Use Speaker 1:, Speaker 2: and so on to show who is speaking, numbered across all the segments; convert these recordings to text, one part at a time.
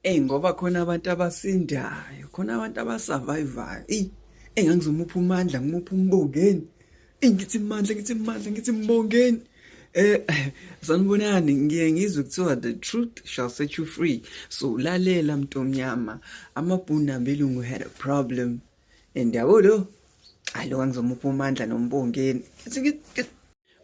Speaker 1: Ey ngoba khona abantu abasindayo, khona abantu abasurvivayo. Ey engangizomupha umandla, ngimupha umbongeni. Ey ngithi mandla, ngithi mandla, ngithi mbongeni. Eh sanibonani ngiye ngizwe kuthiwa the truth shall set you free. So lalela mntomnyama, amabhunu nabelungu had a problem. Indawulo. Hayi lo ngizomupha umandla nombongeni.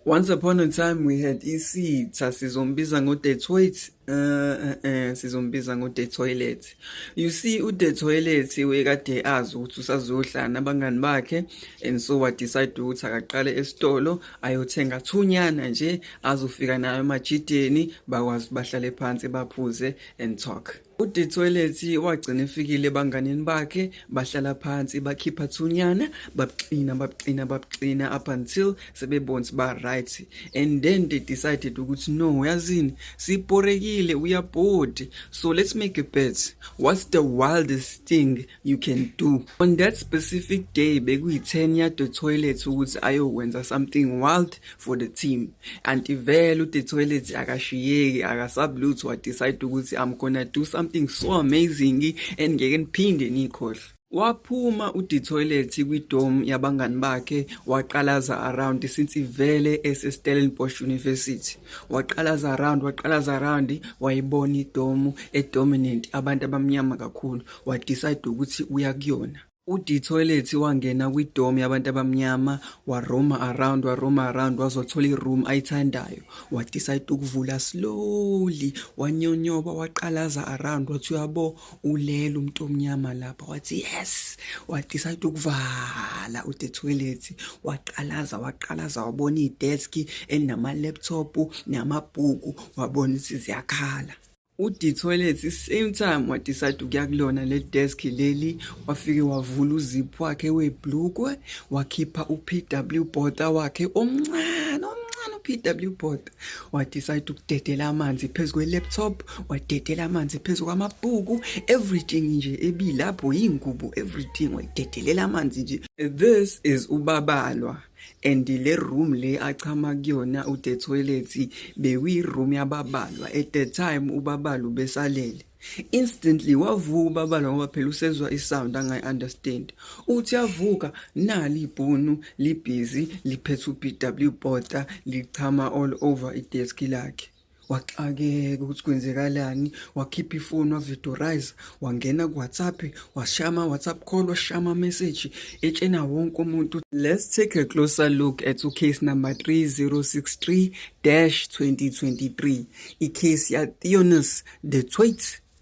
Speaker 1: Once upon a time we had isitha sizombiza ngo the toilet uh, uh, uh, sizombiza ngo the toilet you see u the toilet wekade azi ukuthi usazohlala nabangani bakhe and so wa decide ukuthi akaqale esitolo ayothenga thunyana nje azofika nayo emajideni bakwazi bahlale phansi baphuze and talk udethoyilethi wagcina efikile ebanganini bakhe bahlala phansi bakhipha thunyana babuxina babuxina babuxina up until sebebona ukuthi ba-right and then they decided ukuthi no uyazini siporekile uyabhodi so let's make a bet what's the wildest thing you can do on that specific day bekuyi-10 yade toilet ukuthi ayokwenza something wild for the team anti vele ude toilet akashiyeki akasabi lutho wadecide ukuthi i'm gonna do something so amazing and ngeke niphinde niyikhohle Waphuma uDitoilet kwi-dome yabangani bakhe waqalaza around since ivele eseStellenbosch University. Waqalaza around, waqalaza around wayibona i-dome edominant abantu abamnyama kakhulu. wadecide ukuthi uya kuyona uDetoilet wangena kwi-dorm yabantu abamnyama waroma around waroma around wazothola i-room ayithandayo wadecide ukuvula slowly wanyonyoba waqalaza around wathi uyabo ulele umuntu omnyama lapha wathi yes wadecide ukuvala uDetoilet waqalaza waqalaza wabona i-desk elinama-laptop namabhuku wabona ukuthi ziyakhala ude toilet same time wadecide ukuya kulona le desk leli wafike wavula uziphu wakhe weblukwe wakhipha u-pw bota wakhe omncane omncane u-pw bota wadecide ukudedela amanzi phezu kwe-laptop wadedela amanzi phezu kwamabhuku everything nje ebilapho yingubo everything wayidedelela amanzi nje this is ubabalwa and le room le achama kuyona ude toilet bekuyi room yababalwa at the time ubabalu besalele instantly wavuka ubabalwa ngoba phela usezwa isound angayi understand uthi yavuka nali ibhunu libhizi liphethe uBW bota lichama all over idesk lakhe waxakeka ukuthi kwenzekalani wakhipha ifoni wavidorize wangena kuwhatsapp washaya ama-whatsapp call washaya ama-message etshena wonke umuntu let's take a closer look at ucase number 3063-2023 icase yatheonus de twait